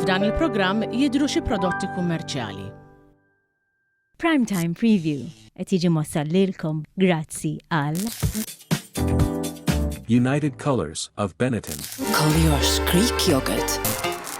F'dan il-programm jidhru xi prodotti kummerċjali. Prime Time Preview qed jiġi mwassal lilkom grazzi għal. United Colors of Benetton. Colliers Greek Yogurt.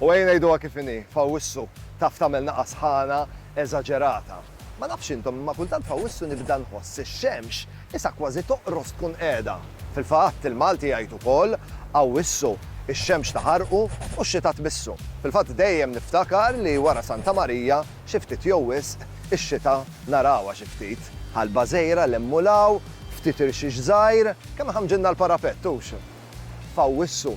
U ejja ngħiduha kif inhi, f'Awwissu taf tagħmel nagħa sħana eżaġerata. Ma nafx intom imma kultant f'Awwissu nibda nħoss ix-xemx isa kważi toqros tkun qiegħda. Fil-fatt, il-Malti jgħid ukoll, Awwissu, ix-xemx taħarqu u x-xita tbissu. Fil-fatt dejjem niftakar li wara Santa Marija, xi ftit jew wisq, ix-xita narawha xi ftit. Ħalba żgħira 'l hemm u 'l hawn, ftit irxix żgħir, kemm iħammġilna l-parapett, hux? f'Awwissu.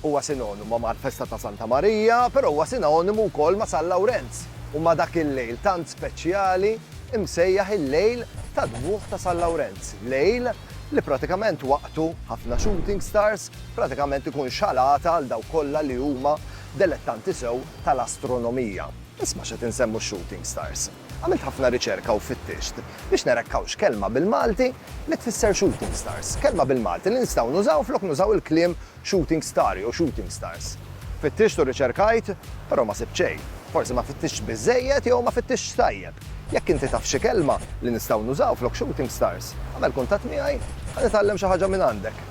Huwa sinonimu mal-festa ta' Santa Marija, però huwa sinonimu wkoll ma' San Lawrenz u ma' dak il-lejl tant speċjali msejjaħ il-Lejl tad-Dmugħ ta' San Lawrenz, lejl li pratikament waqtu ħafna shooting stars pratikament ikun xalata għal dawk kollha li huma delettanti sew tal-astronomija. Isma' x'qed insemmu x-shooting stars. Għamilt ħafna riċerka u fittixt biex nara jekk hawnx kelma bil-Malti li tfisser shooting stars, kelma bil-Malti li nistgħu nużaw flok nużaw il-kliem shooting star jew shooting stars. Fittixt u riċerkajt, però ma sibt xejn. Forsi ma fittixtx biżżejjed jew ma fittixtx tajjeb. Jekk inti taf xi kelma li nistgħu nużaw flok shooting stars, agħmel kuntatt miegħi, ħa nitgħallem xi ħaġa minn għandek.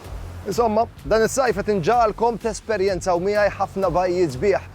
Insomma, dan is-sajf qed inġagħalkom tesperjenzaw miegħi ħafna bajjiet sbieħ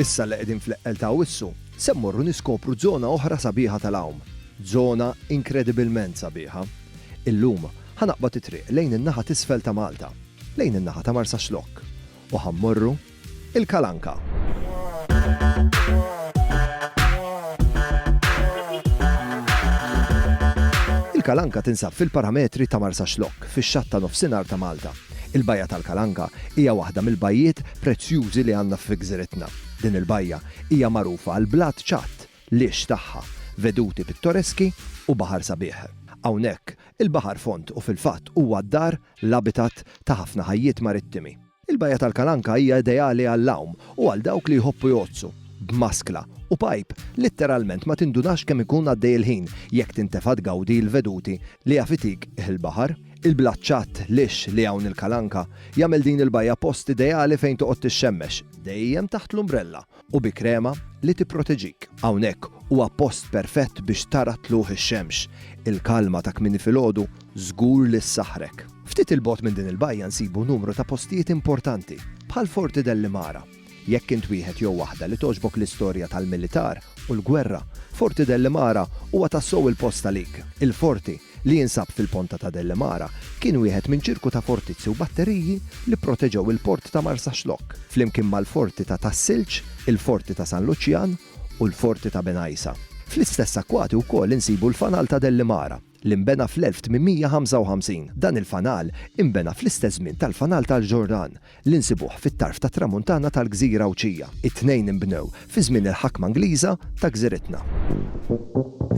Issa li qegħdin fl-eqqel ta' Awwissu, se mmorru niskopru żona oħra sabiħa tal-għawm. Żona inkredibilment sabiħa. Illum, ħa naqbad it-triq lejn in-naħa t'isfel ta' Malta, lejn in-naħa ta' Marsaxlokk, u ħa mmorru il-Kalanka. Il-Kalanka tinsab fil-parametri ta' Marsaxlokk, fix-xatt ta' nofsinhar ta' Malta. Il-Bajja tal-Kalanka hija waħda mill-bajjiet prezzjużi li għandna fi gżiritna. Din il-bajja hija magħrufa għall-blat ċatt, l-għix tagħha, veduti pittoreski u baħar sabiħ. Hawnhekk, il-baħar fond u fil-fatt huwa d-dar, l-abitat, ta' ħafna ħajjiet marittimi. Il-Bajja tal-Kalanka hija ideali għall-għawm u għal dawk li jħobbu jgħoddsu, b'maskla u pajp, litteralment ma tindunax kemm ikun għaddej il-ħin jekk tintefa' tgawdi l-veduti li jaf itik il-baħar. Il-blat ċatt, lixx li hawn il-Kalanka jagħmel din il-bajja post ideali fejn toqgħod tixxemmex, dejjem taħt l-umbrella u bi krema li tipproteġik. Hawnhekk huwa post perfett biex tara tlugħ ix-xemx, il-kalma ta' kmieni filgħodu żgur li ssaħħrek. Ftit 'il bogħod minn din il-bajja nsibu numru ta' postijiet importanti, bħal Forti Delli Mara. Jekk int wieħed jew waħda li togħġbok l-istorja tal-militar u l-gwerra, Forti Delli Mara huwa tassew il-post għalik. Il-Forti li jinsab fil-Ponta ta' Delle Mara, kien wieħed minn ċirku ta' fortizzi u batteriji li pproteġew il-port ta' Marsaxlokk, flimkien mal-forti ta' Tas-Silġ, il-forti ta' San Luċjan u l-forti ta' Bengħajsa. Fl-istess akkwati wkoll insibu l-Fanal ta' Delle Mara, li nbena fl-1855. Dan il-fanal inbena fl-istess żmien tal-Fanal tal-Ġordan, li nsibuh fit-tarf tat-Tramuntana tal-Gżira Għawdxija. It-tnejn inbnew fi żmien il-ħakma Ingliża ta' gżiritna.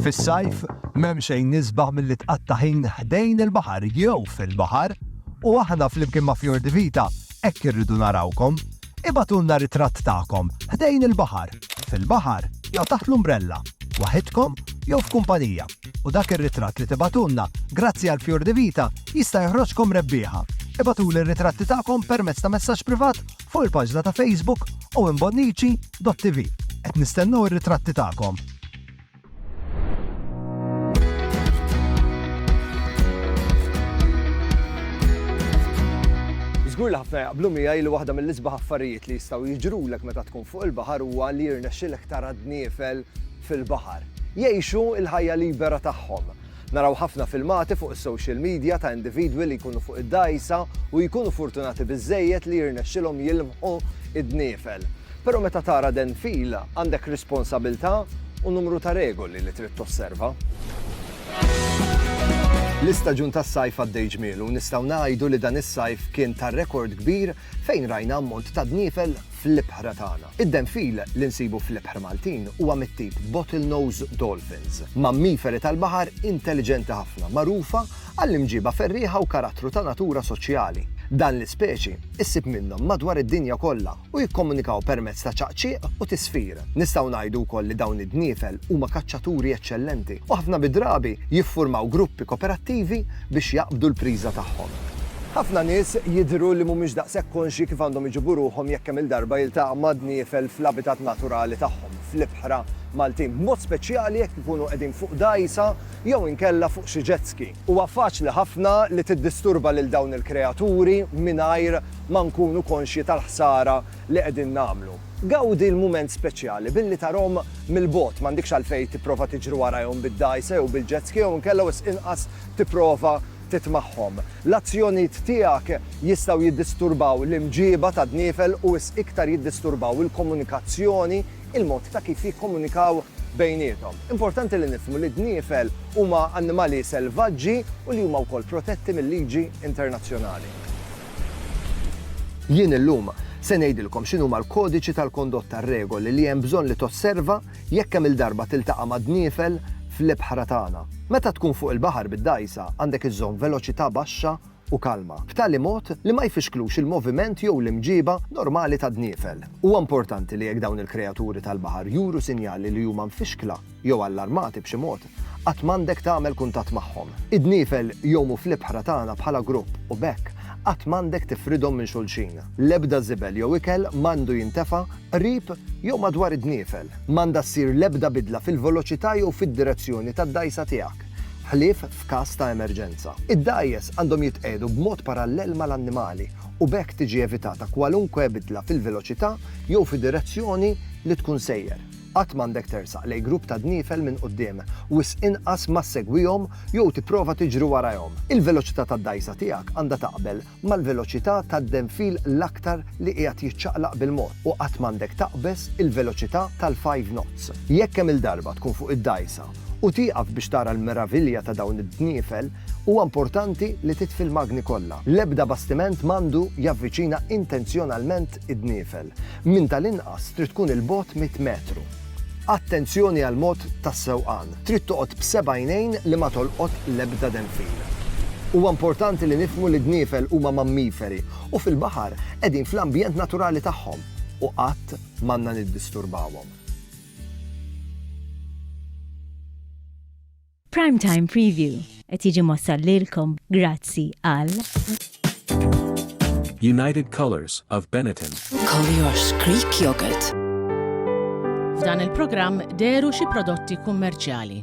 Fis-sajf, m'hemm xejn isbaħ milli tqatta' ħin ħdejn il-baħar jew fil-baħar u aħna flimkien ma' Fior di Vita hekk irridu narawkom. Ibagħtulna ritratt tagħkom ħdejn il-baħar, fil-baħar jew taħt l-umbrella, waħidkom jew f'kumpanija. U dak ir-ritratt li tibagħtulna, grazzi għal Fior di Vita, jista' joħroġkom rebbieħa! Ibagħtuli r-ritratti tagħkom permezz ta' messaġġ privat fuq il-paġna ta' Facebook owenbonnici.tv. Qed nistennew ir-ritratti tagħkom! Żgur li ħafna jaqblu miegħi li waħda mill-isbaħ affarijiet li jistgħu jiġrulek meta tkun fuq il-baħar huwa li jirnexxilek tara d-dniefel fil-baħar, jgħixu l-ħajja libera tagħhom. Naraw ħafna filmati fuq is-social media ta' individwi li jkunu fuq id-dgħajsa u jkunu furtunati biżżejjed li jirnexxilhom jilmħu d-dniefel. Però meta tara denfil, għandek responsabilità u numru ta' regoli li trid tosserva. L-istaġun tas-sajf għaddej ġmielu u nistgħu ngħidu li dan is-sajf kien ta' rekord kbir fejn rajna ammont ta' dniefel fl-ibħra tagħna. Id-denfil li nsibu fl-ibħra Maltin huwa mit-tip bottlenose dolphins, mammiferi tal-baħar intelliġenti ħafna magħrufa għall-imġiba ferrieħa u karattru ta' natura soċjali. Dan l-ispeċi issib minnhom madwar id-dinja kollha u jikkomunikaw permezz ta' ċaqċieq u tisfir. Nistgħu ngħidu wkoll li dawn id-dniefel huma kaċċaturi eċċellenti u ħafna mid-drabi jiffurmaw gruppi koperattivi biex jaqbdu l-priża tagħhom. Ħafna nies jidhru li mhumiex daqshekk konxji kif għandhom iġibu ruħhom jekk kemm-il darba jiltaqgħu ma' dniefel fl-abitat naturali tagħhom, fl-ibħra Maltin, b'mod speċjali jekk ikunu qegħdin fuq dgħajsa jew inkella fuq xi jet ski. Huwa faċli ħafna li tiddisturba lil dawn il-kreaturi mingħajr ma nkunu konxji tal-ħsara li qegħdin nagħmlu. Gawdi l-mument speċjali billi tarahom mill-bogħod, m'għandikx għalfejn tipprova tiġri warajhom bid-dgħajsa jew bil-jet ski jew inkella wisq inqas tipprova tit magħhom. L-azzjonijiet tiegħek jistgħu jiddisturbaw l-imġieba tad-dniefel u wisq iktar jiddisturbaw il-komunikazzjoni, il-mod ta' kif jikkomunikaw bejniethom. Importanti li nifhmu li d-dniefel huma annimali selvaġġi u li huma wkoll protetti mil-liġi internazzjonali. Jien illum se ngħidilkom x'inhuma l-kodiċi tal-kondotta, r-regoli li hemm bżonn li tosserva jekk kemm-il darba tiltaqa' ma' dniefel fl-ibħra tagħna. Meta tkun fuq il-baħar bid-dgħajsa għandek iżżomm veloċità baxxa u kalma, b'tali mod li ma jfixklux il-moviment jew l-imġiba normali tad-dniefel. Huwa importanti li jekk dawn il-kreaturi tal-baħar juru sinjali li huma mfixkla, jew allarmati b'xi mod, qatt m'għandek tagħmel kuntatt magħhom. Id-dniefel jgħumu fl-ibħra tagħna bħala grupp u b'hekk qatt m'għandek tifridhom minn xulxin. L-ebda żibel jew ikel m'għandu jintefa' qrib jew madwar id-dniefel. M'għandha ssir l-ebda bidla fil-veloċità jew fid-direzzjoni tad-dgħajsa tiegħek, ħlief f'każ ta' emerġenza. Id-dgħajjes għandhom jitqiegħdu b'mod parallel mal-annimali u b'hekk tiġi evitata kwalunkwe bidla fil-veloċità jew fid-direzzjoni li tkun sejjer. Qatt m'għandek tersaq lejn grupp ta' dniefel minn quddiem, wisq inqas ma ssegwihom jew tipprova tiġri warajhom. Il-veloċità tad-dgħajsa tiegħek għandha taqbel mal-veloċità tad-denfil l-aktar li qiegħed jiċċaqlaq bil-mod u qatt m'għandek taqbeż il-veloċità tal-five knots. Jekk kemm-il darba tkun fuq id-dgħajsa u tieqaf biex tara l-meravilja ta' dawn id-dniefel, huwa importanti li titfi l-magni kollha. L-ebda bastiment m'għandu javviċina intenzjonalment id-dniefel, minn tal-inqas trid tkun 'il bogħod mitt metru. Attenzjoni għall-mod tas-sewqan, trid toqgħod b'seb'għajnejn li ma tolqot l-ebda denfil. Huwa importanti li nifhmu li d-dniefel huma mammiferi u fil-baħar qegħdin fl-ambjent naturali tagħhom u qatt m'għandna niddisturbawhom. Prime Time Preview qed jiġi mossal lilkom grazzi għal United Colors of Benetton. Collier's Creek Yogurt. F'dan il-programm deru xi prodotti kummerċjali.